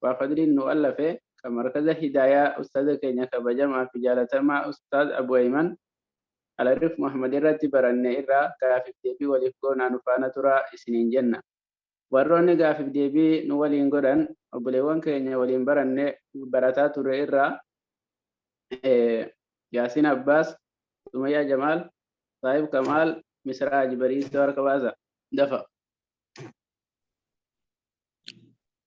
Abbaa Fadliin nu allafe, ka Markaza Hidaayaa Ustaaza keenya kabajamaa fi jaalatamaa Ustaaz Abu Ayman Alarif Muhammad irratti baranne irraa gaafiif deebii waliif goonaa nu faana turaa isiniin jenna. Warroonni gaafiif deebii nu waliin godhan obboleewwan keenya waliin baranne barataa turre irraa Yaasiin Abbaas, Sumayyaa Jamaal, Saahib Kamaal, Misraa Haji Bariisoo harka baasa. Dafa.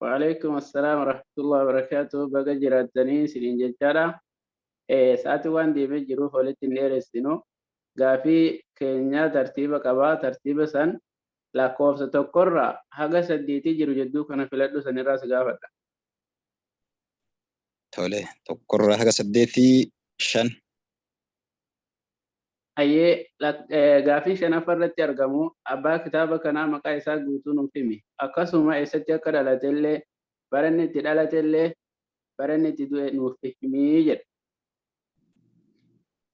Waalaikum assalam warahmatullahi wabarakatuh. Baga jiraattanii isiniin jechaadha. Eh, Sa'aatiin waan deemee jiruuf walitti hin dheeressinu. Gaafii keenya tartiiba qaba. Tartiiba san lakkoofsa tokkorra haga saddeetii jiru jidduu kana filadhu sanirraa si gaafadha. Tole, tokkorraa haga saddeetii shan. Hayyee, lak, gaaffii shanaffa irratti argamu abbaa kitaaba kanaa maqaa isaa guutuu nuuf himi. Akkasuma eessatti akka dhalate illee, bara inni itti dhalate illee, bara inni itti du'e nuuf himi jedha.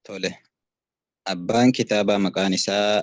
Tole. Abbaan kitaabaa maqaan isaa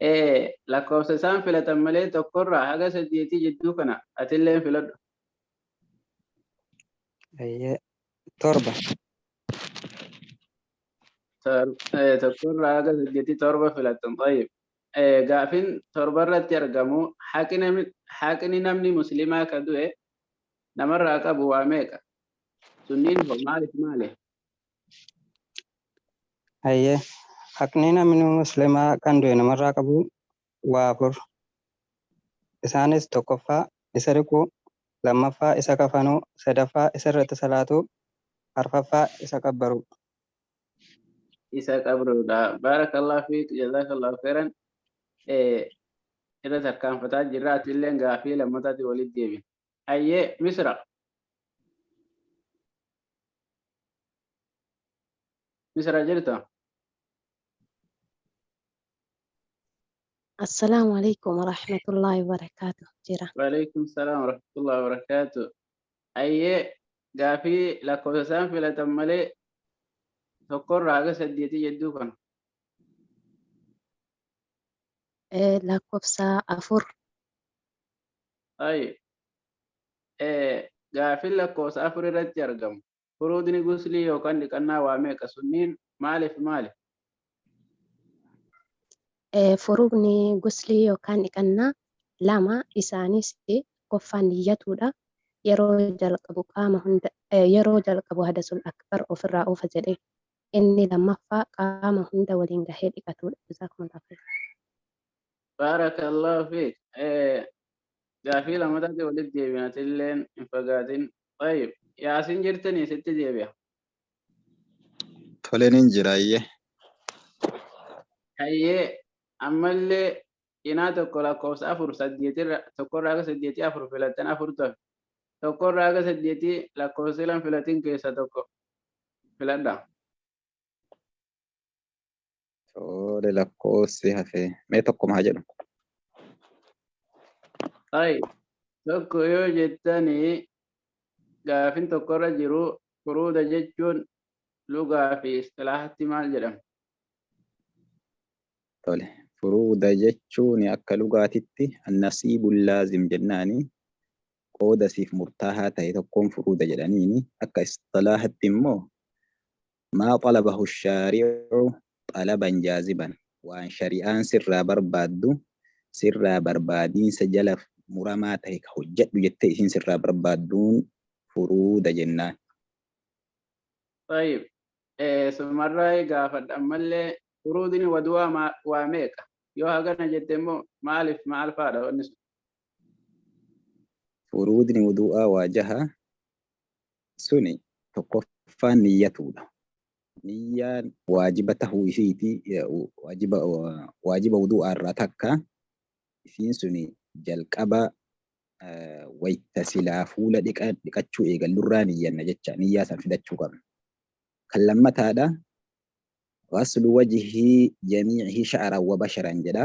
e. Lakkoofsa isaan filatan malee tokkorraa haga saddeetii jidduu kana atilleen filadhu. Ayyee. Torba. Tor- eh, tokkorraa haga saddeetii torba filattan tayyib gaafin torba irratti argamu haqi nami- haqni namni muslimaa ka du'e namarraa qabu waa meeqa sunniin hoo maaliif maali Hayyee haqni namni muslimaa kan du'e namarraa qabu waa afur. Isaanis tokkoffaa isa dhiquu, lammaffaa isa kafanuu, sadaffaa isa irratti salaatuu, arfaffaa isa qabbaruu. isa qabruudha. Baarakallah fiik jazakallah khairan irra tarkaanfataa jirra ati illee gaafii lammataati walitti deebina. Ayyee misira. Misira jirta? Assalaamu alaikum warahmatullahi wabarakaatu jira. Waalaikum salaam warahmatullahi wabarakaatu. Ayyee gaafii lakkoofsa isaan filatan malee tokkorraa haga saddeetii jedduu kana. Eh, Lakkoofsa afur Tayyib. Ee, gaaffiin lakkoofsa afur irratti argamu. Furuudni guslii yookaan dhiqannaa waa meeqa sunniin maaliif maali? Ee, Furuudni guslii yookaan dhiqannaa lama isaanis tokkoffaan niyyatuudha. Yeroo jalqabu qaama hunda ee, yeroo jalqabu hadasul akbar ofirraa oofa jedhee. Inni lammaffaa qaama hunda waliin gahee dhiqatuudha. Jazaakumullaah khayr. Baarakallahu fiik. Eh, Gaafii lamataatti walitti deebiin atilleen hin fagaatin. Tayyib. Yaasin jirtanii sitti deebi'a. Tole nin jira ayyee. Hayyee ammallee cinaa tokko lakkoofsa afur saddeetirra tokkorraa aga saddeetii afur filattan afur tafe tokkorraa aga saddeetii lakkoofsa silan filatin keessa tokko filadha. Tole lakkoofsi hafe mee tokkuma haa jedhu. Ay, tokko yoo jettanii gaafin tokkorra jiru furuuda jechuun lugaa fi istilaahatti maal jedhama? Tole furuuda jechuun akka lugaatitti annasiibul laazim jennaani qooda siif murtaahaa ta'e tokkoon furuuda jedhaniini akka istilaahatti immoo Maa xalabahu shaari'u xalaban jaaziban, waan shari'aan sirraa barbaaddu sirraa barbaadiinsa jala muramaa tahe ka hojjadhu jettee isiin sirraa barbaadduun furuuda jennaan. Xayyib. Eesumarraayi gaafadha ammallee furuudni wadu'aa maa waa meeqa? Yoo hagana jette immoo maalif maal faadha wanni sun? Furuudni wudu'aa waa jaha. Suni tokkoffaan niyyatuudha. Niyyaan waajiba tahuu isiitii waajiba waajiba wudu'aa irraa takka isiin suni jalqaba wayta silaa fuula dhiqa dhiqachuu eegallu irraa niyyanna jecha niyyaa san fidachuu qabna. Kan lammataadha ghaslu wajhi jamii'ihi sha'ran wa basharan jedha.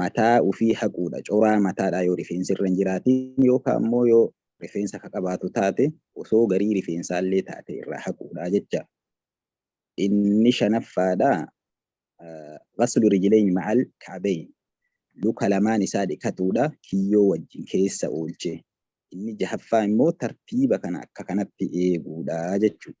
mataa ufii haquudha coraa mataadhaa yoo rifeensi irra hin jiraatiin yookaa immoo yoo rifeensa ka qabaatu taate osoo garii rifeensaallee taate irraa haquudha jecha inni shanaffaadha ghaslu rijlayn ma'al ka'bayn luka lamaan isaa dhiqatuudha kiyyoo wajjin keessa oolche inni jahaffaa immoo tartiiba kana akka kanatti eeguudha jechuudha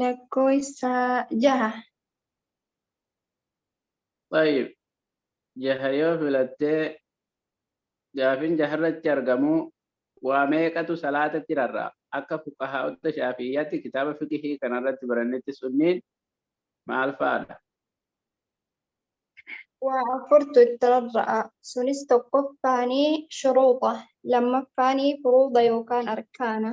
Lakkoofsa jaha. Xayyib. Jaha yoo filatte gaafin jaharratti argamu waa meeqatu salaatatti rarra'a? Akka fuqahaa'ota shaafi'iyyatti kitaaba fiqhii kanarratti barannetti sunniin maal faadha? Waa afurtu itti rarra'a. Sunis tokkoffaani shuruuxa, lammaffaani furuuda yookaan arkaana,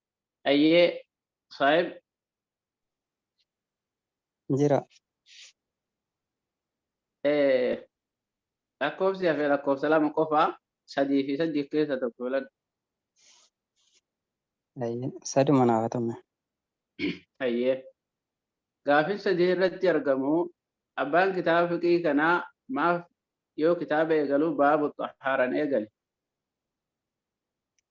Ayyee saahib jira eh, lakkoofsi hafee lakkoofsa lama qofaa sadii fi saddeet keessa tokko filadhu. Ayyee, saduma naaf haa ta'u. Ayyee. Gaafin sadii irratti argamu abbaan kitaaba fiqii kanaa maaf yoo kitaaba eegalu baabu xahaaran eegale.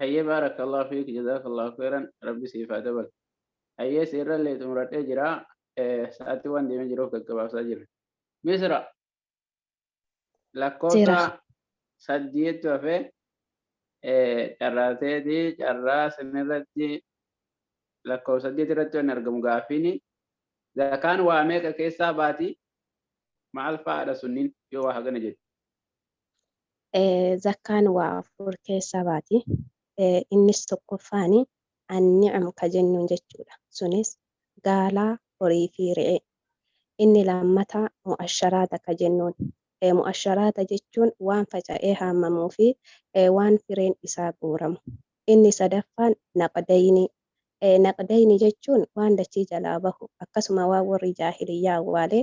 Hayyee baarakallahu fiik jazaakallahu khayran rabbi siif haa dabalu. Hayyee siirrallee xumuradhee jira sa'aatii waan deemee jiruuf gaggabaabsaa jirra. Misra lakkoofsa Jira. saddeettu hafee carraateeti carraa sanirratti lakkoofsa saddeet irratti waan argamu gaaffiin zakaan waa meeqa keessaa baati maal fa'aadha sunniin yoo waa hagana jedhu. Eh, zakkaan waa afur keessaa baati. Eh, innis tokkoffaani anni'am ka jennuun jechuudha. Sunis gaalaa, horii fi re'ee. Inni lammataa mu'asharaata ka jennuun. Eh, mu'asharaata jechuun waan faca'ee haamamuu fi eh, waan fireen isaa guuramu. Inni sadaffaan naqdaynii. Eh, naqdaynii jechuun waan dachii jalaa bahu akkasuma waan warri jaahiliyyaa awwaale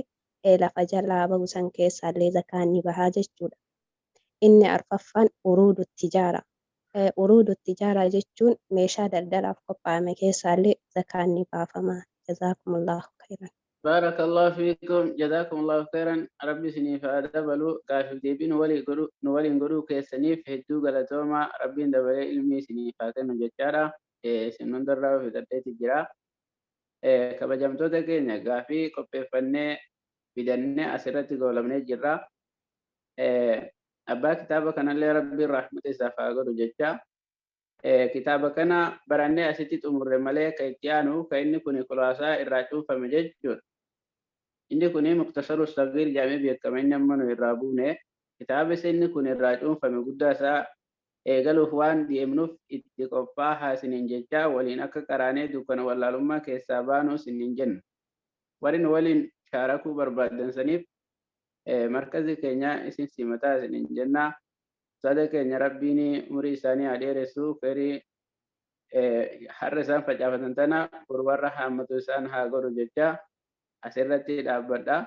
ee lafa jalaa bahu san keessaallee zakaan ni baha jechuudha. Inni arfaffaan uruudu tijaara, ee uruudu tijaara jechuun meeshaa daldalaaf qophaa'ame keessaallee zakaan ni baafama. Jazaakumullaahu kayran. Baarakallaahu fiikum Jazaakumullaahu kayran Rabbi isiniif haa dabalu Gaaffiif deebii nu waliin godhu nu waliin godhuu keessaniif hedduu galatoomaa Rabbiin dabalee ilmii isiniif haa kennu jechaadha ee isin hundarraahuu fixadheeti jira Kabajamtoota keenya gaafii qopheeffannee fidannee asirratti goolabnee jirra. Abbaa kitaaba kanallee Rabbiin rahmata isaaf haa godhu jecha kitaaba kana barannee asitti xumurre malee kan itti aanu kan inni kun kulaasaa irraa cuunfame jechuudha. Inni kun muktasaru sagiir jedhamee beekama inni amma nu irraa buune kitaaba inni kun irraa cuunfame guddaa isaa eegaluuf waan deemnuuf itti qophaahaa isiniin jechaa waliin akka qaraanee dukkana wallaalummaa keessaa baanu isinniin jenna. Warri nu waliin shaarakuu barbaaddan saniif markazi keenya isin simataa isiniin jenna. Ustaaza keenya Rabbiin umrii isaanii haa dheeressu kheyrii har'a isaan facaafatan tana boru warra haammatu isaan haa godhu jechaa asirratti dhaabbadha.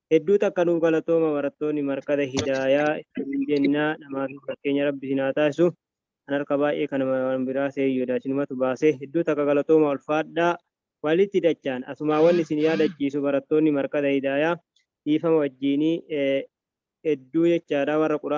Hedduu takka nuuf galatooma barattooni markaza hidaayaa isinin jenna namaafi fakkeenya rabbi isin haa taasisu an harka baay'ee kan waan biraa seeyu yoda isinumatu baase hedduu takka galatooma ulfaadhaa walitti dachaan asumaa wanni isin yaadachiisu barattoonni markaza hidaayaa dhiifama wajjiini hedduu jechaadha warra quraan